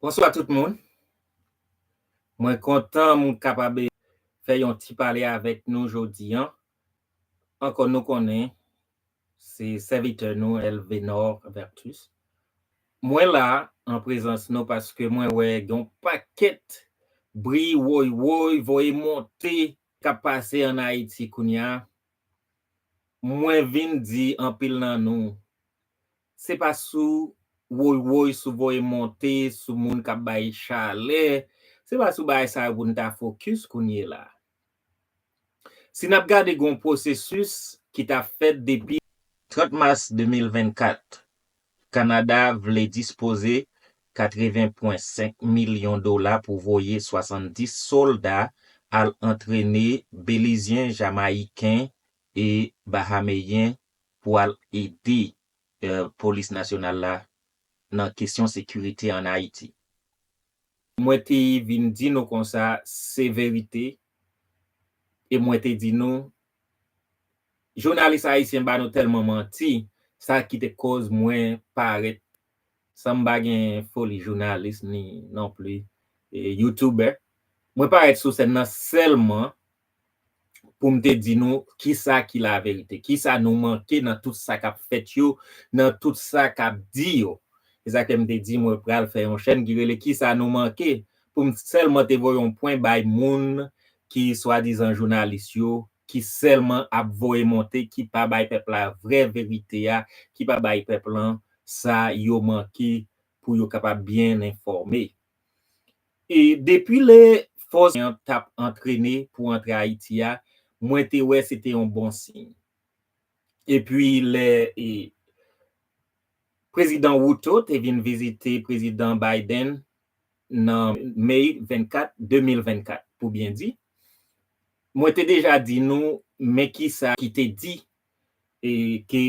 Bonswa tout moun, mwen kontan m kapab fè yon ti pale avèk nou jodi an, ankò nou konnen se sèvitè nou Elvénor Vertus. Mwen la an prezans nou paske mwen wè gen yon pakèt bri woy woy voye monte k ap pase an Ayiti kounye a Mwen vin di anpil nan nou, se pa sou woy woy, sou voye monte, sou moun k ap bay chalè, se pa sou bagay sa yo pou n ta fokis kounyela. Si n ap gade gen yon pwosesis ki ta fèt depi. 30 mas 2024, Kanada vle dispoze 80 pwen 5 milyon dola pou voye 70 solda al antrene Belizyen, Jamayiken e Bahameyen pou al ede Polis Nasyonal la nan kesyon sekirite an Ayiti. Mwen te vin di nou konsa se verite e mwen te di nou Jounalis ayisyen ba nou telman manti sa ki te koz mwen pa ret san m pa gen foli jounalis ni non pli youtubè mwen pa ret sou sèn nan selman pou m te di nou kisa ki la verite kisa nou manke nan tout sa kap fèt yo nan tout sa kap di yo se sa ke m te di mwen pral fè yon chèn ki rele kisa nou manke pou m sèlman te voye yon pwen bay moun ki swadizan jounalis yo ki sèlman ap voye monte ki pa bay pèp la vrè verite a ki pa bay pèp lan sa yo manke pou yo kapab byen enfòme e depi lè fòs an t ap antrene pou antre Ayiti a mwen te wè se te yon bon siy epi lè e prezidan Ruto te vin vizite prezidan Biden nan May 24, 2024, pou byen di, mwen te deja di nou men kisa ki te di e ke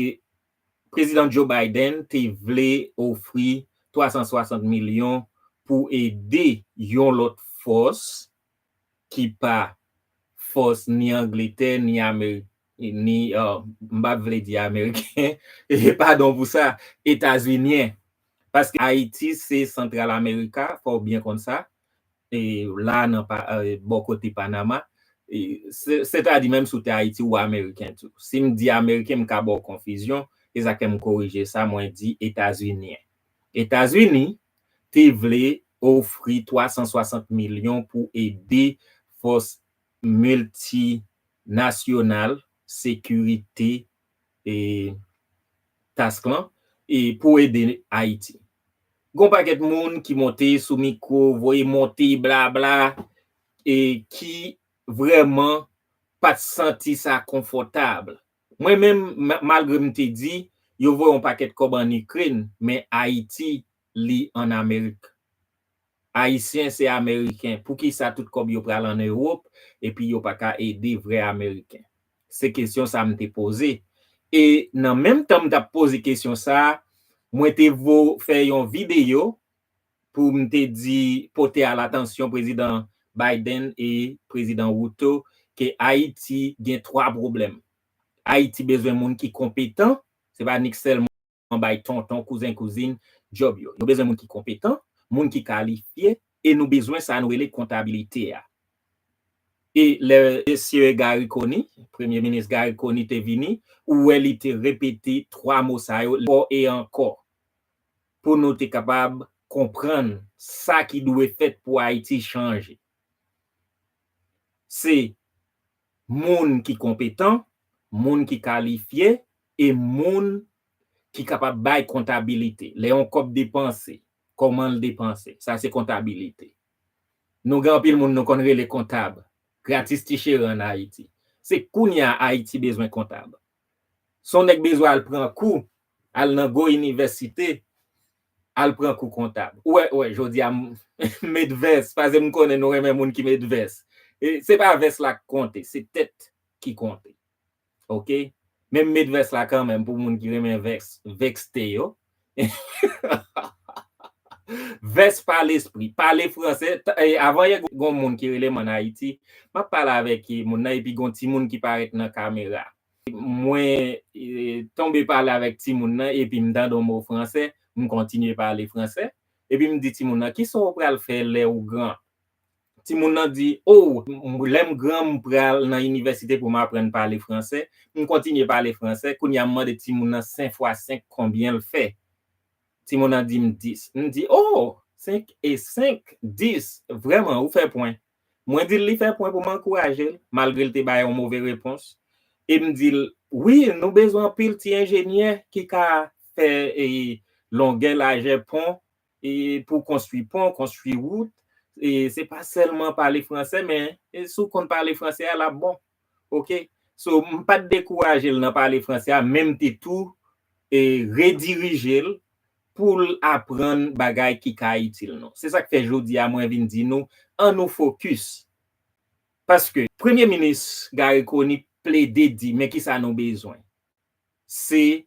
Prezidan Joe Biden te vle ofri 360 milyon pou ede yon lòt fòs, ki pa fòs ni Angletè ni Amerik ni m pa t vle di Ameriken, padon pou sa, Etazinyen. Paske Ayiti se Santral Amerika, fò w byen konn sa, la nan bò kote Panama. Sètadi menm si w te Ayiti ou Ameriken tou. Si m di Ameriken m ka ba w konfizyon, e sa k fè m korije sa, mwen di Etazinyen. Etazini te vle ofri 360 milyon pou ede fòs miltinasyonal sekirite task lan pou ede Ayiti. Gon pakèt moun ki monte sou mikwo voye monte blabla ki vrèman pat santi sa konfòtab Mwen menm malgre m te di yo voye yon pakèt kòb an Ikrèn men Ayiti li an Amerik. Ayisyen se Ameriken poukisa tout kòb yo pral an Ewop epi yo paka ede vrè Ameriken? Se kesyon sa m te poze e nan menm tan m tap poze kesyon sa mwen te vo fè yon videyo pou m te di pote a latansyon Prezidan Biden e Prezidan Ruto ke Ayiti gen 3 pwoblèm. Ayiti bezwen moun ki konpetan, se pa nik sèlman bay tonton, kouzen, kouzin djòb yo. Nou bezwen moun ki konpetan, moun ki kalifye e nou bezwen sa nou rele kontabilite a. E lè Mesye Garry Conille, Premye Minis Garry Conille te vini, ou wè li te repete 3 mo sa yo ankò e ankò. pou nou te kapab konprann sa ki dwe fèt pou Ayiti chanje. Se moun ki konpetan, moun ki kalifye e moun ki kapab bay kontabilite. Lè yon kòb depanse, kòman l depanse? Sa se kontabilite. Nou gen anpil moun nou konn rele kontab, gratis ti cheri an Ayiti. Se kounye a Ayiti bezwen kontab. Son nèg bezwen al pran kou, al nan gwo inivèsite, al pran kou kontab. Ou wè, ou wè, jodi a m met vès, pase m konnen nou renmen moun ki met vès. Se pa vès la k konte, se tèt ki konte. Ok? Men m met vès la kanmenm pou moun ki renmen vès, vexte yo. Vès pa lespri, pale fransè, avan yè gon moun ki rele m an Ayiti, m ap pale avèk moun nan epi gon timoun ki parèt nan kamera. Mwen tonbe pale avèk timoun nan epi m tande yon mo fransè, m kontinye pale fransè, epi m di timoun nan, kisa w pral fè lè ou gran? Timoun nan di, Ow, lè m gran m pral nan inivèsite pou m aprann pale fransè. M kontinye pale fransè, kounye a m mande timoun nan 5 fwa 5 konbyen l fè. Timoun nan di m 10. M di, O, 5 e 5, 10. Vrèman, ou fè pwen. Mwen di l li fè pwen pou m ankouraje l, malgre l te bay yon move repons. E m di l, Wi, nou bezwen anpil ti enjenyè ki ka fè longè lajè pon Pou konstwi pon, konstwi wout, se pa sèlman pale franse men si w konn pale franse a l ap bon. Ok. So m pa t dekouraje l nan pale franse a men m te tou redirije l pou l aprann bagay ki ka itil nou. Se sa k fè jodi a mwen vin di nou an nou fokis paske premye minis Garry Conille plede di men kisa nou bezwen. Se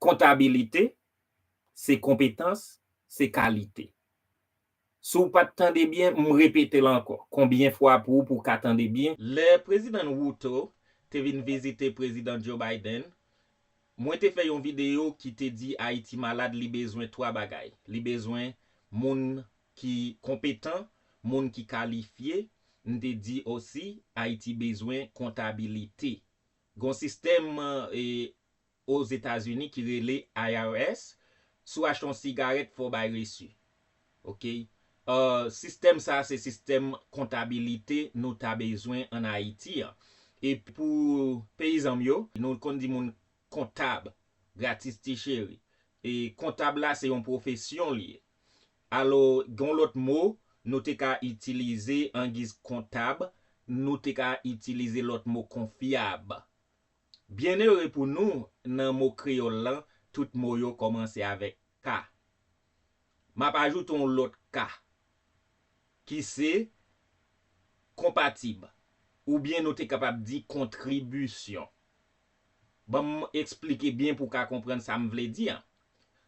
kontabilite, se konpetans, se kalite. Si w pat tande byen, m repete l ankò, konbyen fwa pou pou w ka tande byen, lè Prezidan Ruto te vin vizite Prezidan Joe Biden, mwen te fè yon videyo ki te di Ayiti malad li bezwen 3 bagay, li bezwen moun ki konpetan, moun ki kalifye, m te di osi Ayiti bezwen kontabilite. Gen yon sistèm Ozetazini ki rele IRS, si w achte yon sigarèt fò w bay resi. Ok. Sistèm sa se sistèm kontabilite nou ta bezwen an Ayiti an. E pou peyizan m yo, nou konn di moun kontab gratis ti cheri. E kontab la se yon pwofesyon li ye. Alò, gen yon lòt mo nou te ka itilize angiz kontab, nou te ka itilize lòt mo kon fyab. Byennere pou nou, nan mo kreyòl lan, tout mo yo kòmanse avèk k. M ap ajoute yon lòt k, ki se konpatib, oubyen nou te kapab di kontribisyon. Ban m esplike byen pou w ka konprann sa m vle di an.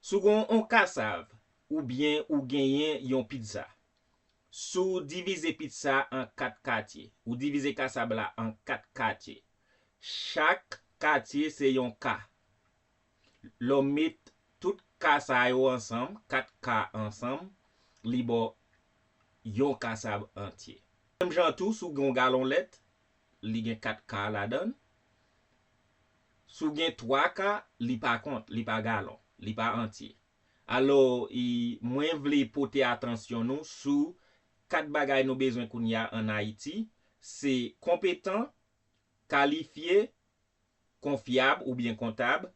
Si w gen yon kasav oubyen ou genyen yon pitza, si w divize pitza a an kat katye, ou divize kasab la an kat katye, chak katye se yon ka. Lè w met tout ka sa yo ansanm, kat ka ansanm, li ba w yon kasav antye. Menm jan tou, si w gen yon galon lèt, li gen kat ka ladan l. Si w gen twa ka, li pa kont, li pa galon, li pa antye. Alò, mwen vle pote atansyon nou sou kat bagay nou bezwen kounye a an Ayiti, se konpetan, kalifye, konfyab oubyen kontab,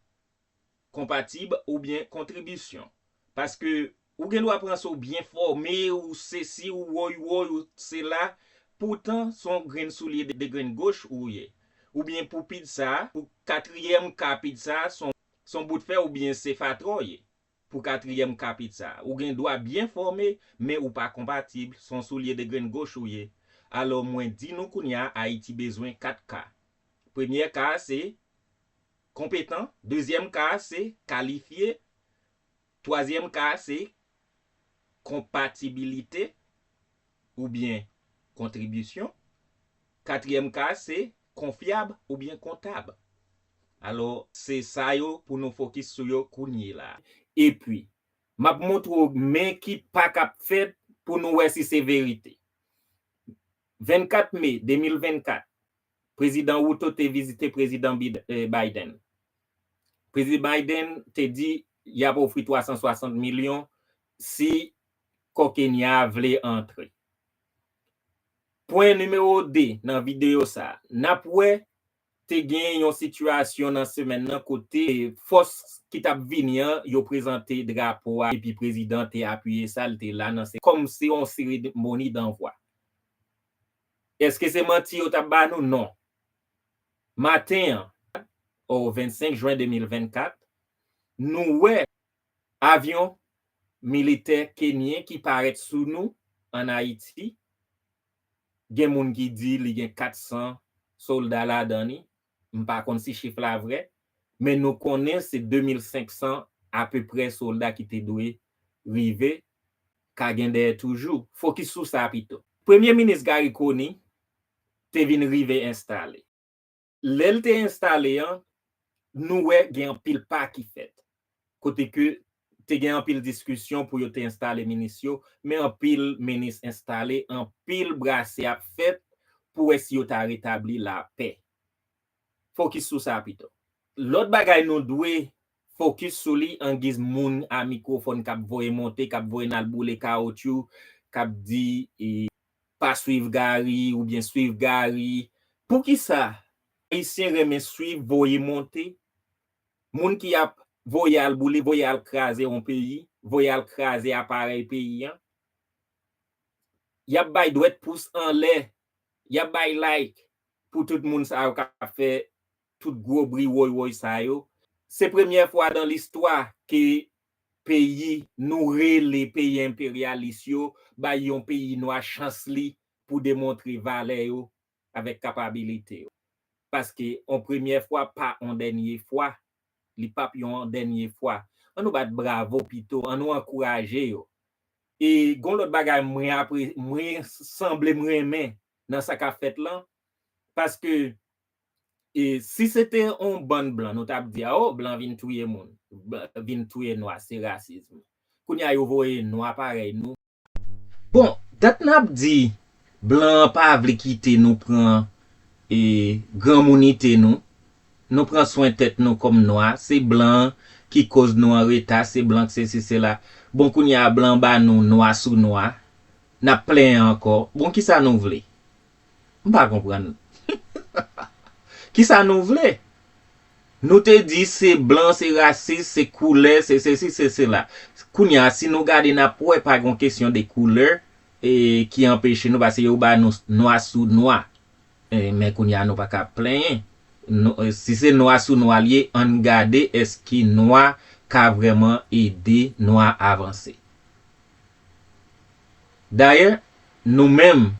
konpatib oubyen kontribisyon paske ou gen dwa panse ou byen fòme ou sesi ou woy woy ou sela poutan son grenn soulye de grenn goch ou ye oubyen pou pid sa pou katriyèm ka pid sa son bout fè oubyen se fatra w ye pou katriyèm ka pid sa ou gen dwa byen fòme men ou pa konpatib son soulye de grenn goch ou ye alò mwen di nou kounya ayiti bezwen 4 ka premyè ka se. Konpetan, dezyèm ka a se kalifye, twazyèm ka a se konpatibilite oubyen kontribisyon, katriyèm ka a se konfyab oubyen kontab. Alò, se sa yo pou nou fokis sou yo kounyela. Epi, m ap montre w men ki pa k ap fèt pou nou wè si se verite. 24 me 2024, Prezidan Ruto te vizite Prezidan Biden. Prezidan Biden te di y ap ofri 360 milyon si kò Kenya a vle antre. Pwen nimewo 2 nan videyo sa a, n ap wè te gen yon sitiyasyon nan semèn nan kote fòs ki t ap vini an yo prezante drapo a epi prezidan te apiye sa, li te la nan kòm se yon seremoni danvwa. Eske se manti yo tap ba nou? Non. Maten an, oh 25 jwen 2024, nou wè avyon militè kenyen ki parèt sou nou an Ayiti, gen moun ki di li gen 400 solda ladan li, m pa konn si chif la vrè, men nou konnen se 2500 apeprè solda ki te dwe rive, ka gen dèyè toujou. Fokis sou sa pito. Premye minis Garry Conille te vin rive enstale. Lè l te enstale an, nou wè gen anpil pa ki fèt. kote ke te gen anpil diskisyon pou yo te enstale minis yo, men anpil minis enstale, anpil brase ap fèt pou wè si yo ta retabli lapè. Fokis sou sa pito. Lòt bagay nou dwe fokis sou li angiz moun a mikwofòn k ap voye monte, k ap voye n al boule kawotchou, k ap di pa swiv Gary oubyen swiv Gary. Poukisa Ayisyen renmen swiv voye monte? Moun ki ap voye al boule, voye al kraze yon peyi, voye al kraze aparèy peyi an, y ap bay dwèt pous anlè, y ap bay like pou tout moun sa yo k ap fè tout gwo bri woy woy sa yo. Se premyè fwa dan listwa ke peyi nou rele peyi enperyalis yo bay yon peyi nwa chans li pou demontre valè yo avèk kapabilite w. Paske on premyè fwa pa on dènye fwa, li pap yon dènye fwa. An nou bat bravo pito, an nou ankouraje yo. E gon lòt bagay mwen apre, mwen sanble m renmen nan sa kap fèt lan, paske e si se te on bann blan nou tap di a o blan vin touye moun, vin touye nwa se rasism. Kounya yo voye nwa parèy nou. Bon dat nap di blan an pa vle kite nou pran e granmounite nou, nou pran swen tèt nou kòm nwa, se blan an ki koz nou an reta, se blan k sesi sela, bon kounya blan ba nou nwa sou nwa, nap plenyen ankò, bon kisa nou vle? M pa konprann. Kisa nou vle? Nou te di se blan se rasis, se koulè, se sesi, se sela. Kounye a si nou gade n ap wè pa gen yon kesyon de koulè ki anpeche nou paske yo ba nou nwa sou nwa. Men kounye a nou pa ka ap plenyen. Si se nwa sou nwa li ye ann gade èske nwa ka vrèman ede nwa avanse. Dayè nou menm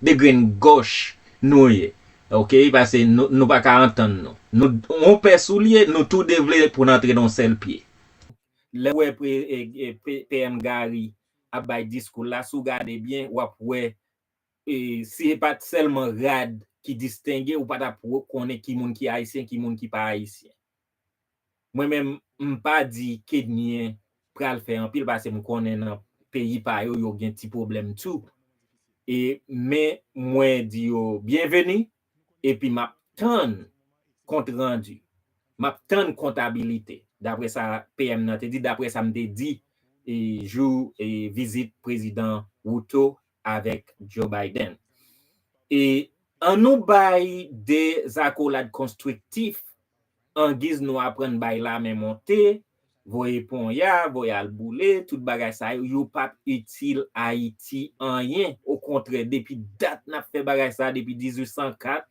de grenn gòch nou ye ok pase nou pa ka antann nou nou on pè soulye nou tou de vle pou n antre nan on sèl pye lèw wè PM Garry ap bay diskou l la si w gade byen wap wè si e pat sèlman rad ki distenge ou pa tap konnen ki moun ki ayisyen ki moun ki pa ayisyen. Mwen menm m pa di Kedmien pral fè anpil pase m konnen nan peyi pa yo yo gen ti pwoblèm tou e men mwen di yo byenveni epi m ap tann kont randi, m ap tann kontabilite daprè sa PM nan te di, daprè sa m te di jou vizit prezidan Ruto avèk Joe Biden. E an nou bay de zakolad konstriktif angiz nou aprann bay lame monte, voye ponya, voye al boule, tout bagay sa yo, yo pap itil Ayiti anyen. Okontrè, depi dat n ap fè bagay sa a, depi 1804,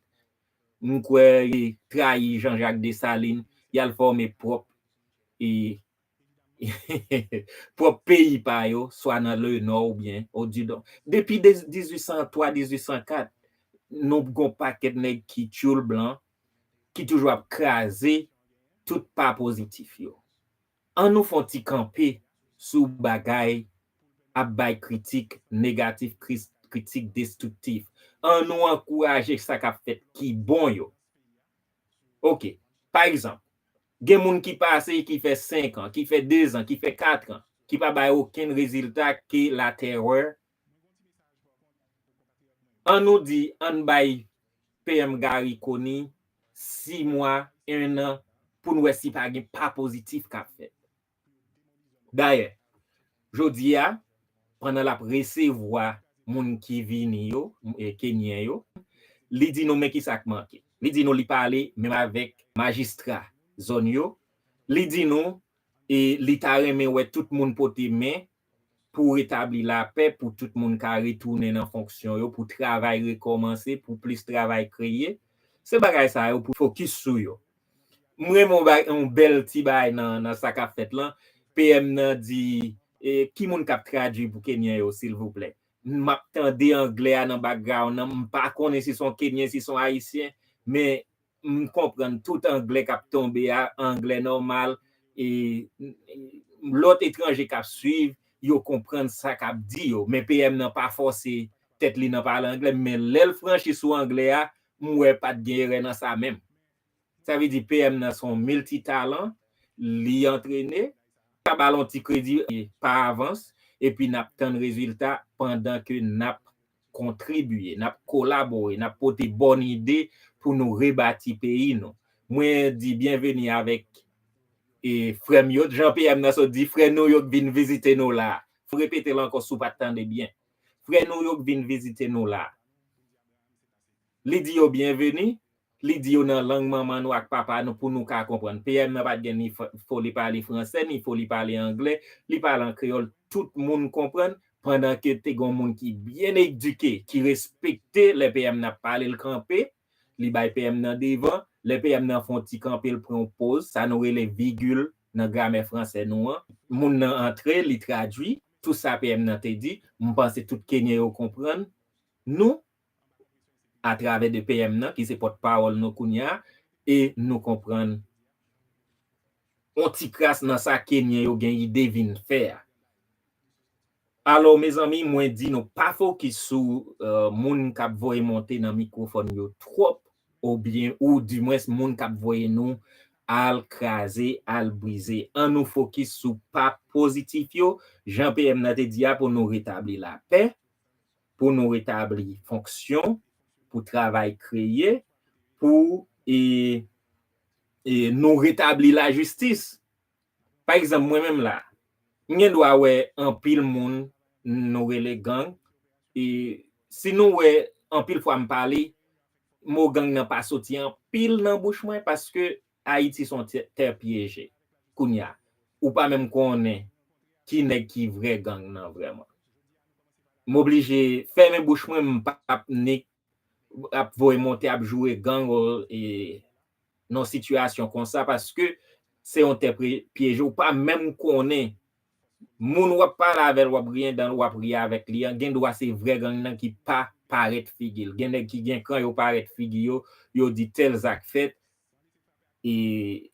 m kwè yo trayi Jean Jacques Dessalines, y al fòme pwòp pwòp peyi pa yo, swa nan le nò oubyen o didon. Depi 1803, 1804, nou gon pakèt nèg ki tyoul blan ki toujou ap kraze tout pa pozitif yo. An nou fon ti kanpe sou bagay ap bay kritik negatif, kritik destriktif. An nou ankouraje sa kap fèt ki bon yo. Ok, pa egzanp, Gen moun ki pase, ki fè 5 an, ki fè 2 zan, ki fè 4 an, ki pa bay okenn rezilta ke la terè. An nou di, an n bay PM Garry Conille 6 mwa, 1 an, pou n wè si pa gen pa pozitif k ap fèt. Dayè, jodi a, pandan l ap resevwa moun ki vini yo, Kenyen yo, li di nou men kisa k manke. Li di nou li pale menm avèk majistra zòn yo, li di nou li ta renmen wè tout moun pote men pou retabli lapè, pou tout moun ka retounen nan fonksyon yo, pou travay rekòmanse, pou plis travay kreye. Se bagay sa yo pou fokis sou yo. M renmen yon bèl ti bagay nan sa k ap fèt lan, PM nan di, Ki moun k ap tradui pou Kenyen yo silvouplè? M ap tande anglè a nan background nan, m pa konnen si se yon Kenyen, si se yon Ayisyen, men M konprann tout anglè kap tonbe a, anglè nòmal e lòt etranje kap swiv yo konprann sa kap di yo. Men PM nan pa fòse tèt li nan pale anglè, men lè l franchi sou anglè a, m wè pat gen erè nan sa menm. Sa vle di PM nan se yon milti talan, li antrene, m ta ba l yon ti kredi pa avans epi nap tann rezilta pandan ke nap kontribiye, n ap kolabore, n ap pote bòn ide pou nou rebati peyi nou. Mwen di byenveni avèk frè m yo, jan PM nan sot di, frè nou yo k vin vizite nou la a. M repete l ankò si w pa t tande byen. Frè nou yo k vin vizite nou la a. Li di yo byenveni. Li di yo nan lang manman nou ak papa nou pou nou ka konprann. PM nan pa t gen ni foli pale franse ni foli pale angle, li pale an kreyòl tout moun konprann, pandan ke te gen yon moun ki byen edike, ki respekte lè PM nan ap pale l kanpe, li bay PM nan devan, lè PM nan fè yon ti kanpe l pran yon poz, sa nou rele vigil nan gramè franse nou an, moun nan antre li tradui tout sa PM nan te di, m panse tout kenyen yo konprann nou, atravè de PM nan ki se pòt pawòl nou kounya e nou konprann on ti kras nan sa kenyen yo gen ide vin fè a. Alò mezanmi mwen di nou pa fokis sou moun kap voye monte nan mikrofòn yo twòp ou byen ou di mwens moun kap voye nou al kraze al brize an nou fokis sou pa pozitif yo jan PM nan te di a pou nou retabli lapè pou nou retabli fonksyon, pou travay kreye, pou nou retabli lajistis. Pa egzanp, mwen menm la, m gen dwa wè anpil moun nou rele gang, e si nou wè anpil fwa m pale, mo gang nan pa soti anpil nan bouch mwen paske Ayiti son tè pyeje. Kounya ou pa menm konnen ki nèg ki vrè gang nan vrèman. M oblije fèmen bouch mwen m pap nik ap voye monte ap joure gang nan sitiyasyon konsa paske se yon tè pyeje ou pa menm konnen moun wap pale avèl wap griyen danl wap ri avèk li an gendwa se vrè gang nan ki pa parèt figil gen nèg ki gen kan yo parèt figi yo yo di tèl zak fèt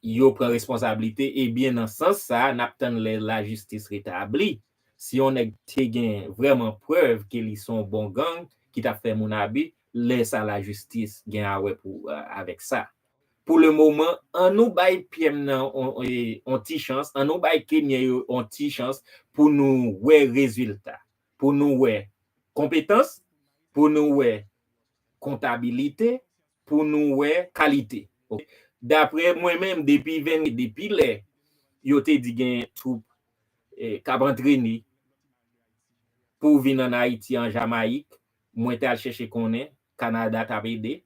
yo pran responsablite ebyen nan sans sa nap tann lè lajistis retabli si yon nèg te gen vrèman prèv ke li son bon gang ki tap fè moun abi lè sa lajistis gen a wè pou avèk sa pou le moman an nou bay pyèm nan yon ti chans an nou bay kenyen yo yon ti chans pou nou wè rezilta pou nou wè konpetans pou nou wè kontabilite. pou nou wè kalite ok daprè mwen menm depi 20 depi lè yo te di gen twoup kap antrene pou vin an ayiti an jamayik mwen te al chèche konnen kanada tap ede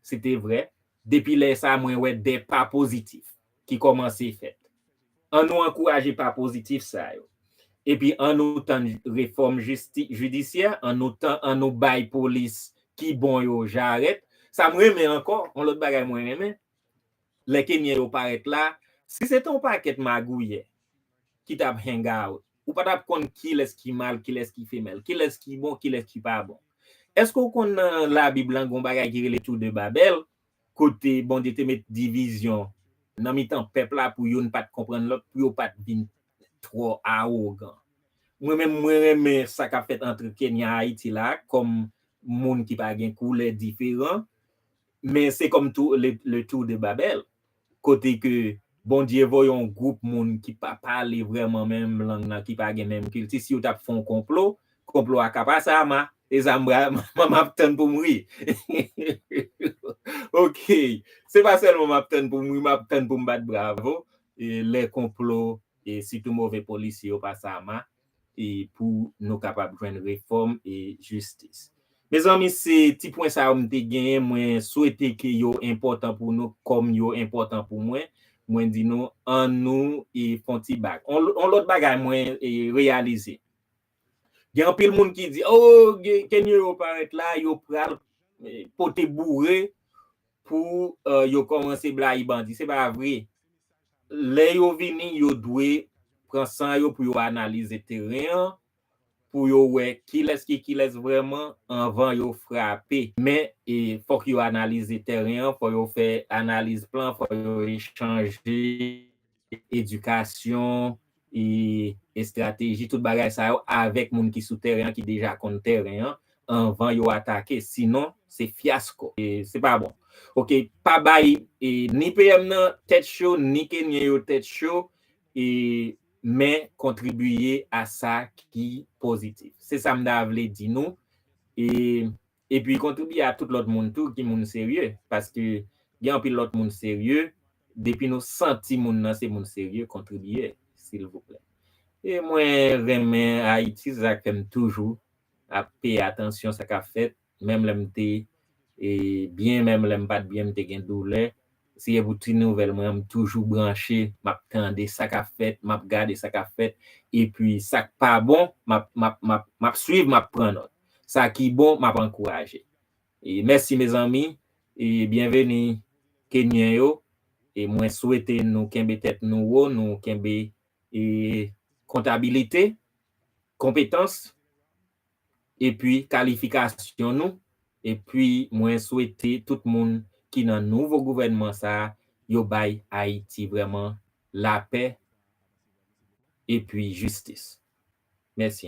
se te vrè depi lè sa mwen wè 2 pa pozitif ki kòmanse fèt. An nou ankouraje pa pozitif sa yo. Epi an nou tann refòm jidisyè, an nou tan an nou bay polis ki bon yo jarèt. Sa m renmen ankò, yon lòt bagay mwen renmen, lè kenyen yo parèt la, si se te yon pakèt magouyè ki t ap hang out, ou pa t ap konn kilès ki mal, kilès ki femèl, kilès ki bon, kilès ki pa bon. Èske ou konn nan labib lan gen yon bagay ki rele tou de Babèl? Kote Bondye te met divizyon nan mitan pèp la pou youn pa t konprann lòt, pou yo pa t vin twò awogan. Mwen menm, mwen renmen sa k ap fèt antre Kenya a Ayiti la a kòm moun ki pa gen koulè diferan, men se kòm tou le tour de Babel kote ke Bondye voye yon gwoup moun ki pa pale vrèman menm lang nan, ki pa gen menm kilti, si yo t ap fè yon konplo, konplo a ka pase a ma, e sa m pral, m ap tann pou m ri. Ok, se pa sèlman m ap tann pou m ri, m ap tann pou m bat bravo lè konplo, sitou move polisye yo pase a ma. e pou nou kapab jwenn refòm e jistis. Mezanmi se ti pwen sa yo m te genyen mwen swete ke yo enpòtan pou nou kòm yo enpòtan pou mwen, mwen di nou an nou e fon ti bak. On lòt bagay mwen e reyalize gen anpil moun ki di oh ke nyo yo parèt la yo pral pote boure Pou yo komanse blayi bandi se pa vre lè yo vini yo dwe pran san yo pou yo analize teren an pou yo wè kilès ki kilès vrèman anvan yo frape. Men fòk yo analize teren an fò yo fè analiz plan fò yo echanje edikasyon, estrateji, tout bagay sa yo avèk moun ki sou tèren an ki deja konn tèren an anvan yo atake sinon se fyasko. Se pa bon. Ok pa bay ni PM nan tèt cho ni kenyen yo tèt cho men kontribiye a sa ki pozitif. Se sa m ta vle di nou. Epi kontribye a tout lòt moun tou ki moun serye, paske gen anpil lòt moun serye, depi nou santi moun nan se moun serye kontribye silvouplè. E mwen renmen Ayiti se sak fèm toujou ap peye atansyon sa kap fèt menm lèm te byen menm lèm pat byen m te gen doulè Seyè pou ti nouvel mwen an m toujou branche map tande sa kap fèt map gade sa kap fèt epi sak pa bon map map map map swiv map pran nòt sa ki bon map ankouraje e mèsi mezanmi e byenveni kenyen yo e mwen swete nou kenbe tèt nou wo nou kenbe e kontabilite konpetans epi kalifikasyon nou epi mwen swete tout moun ki nan nouvo gouvènman sa yo bay Ayiti vrèman lapè epi jistis. Mèsi anpil.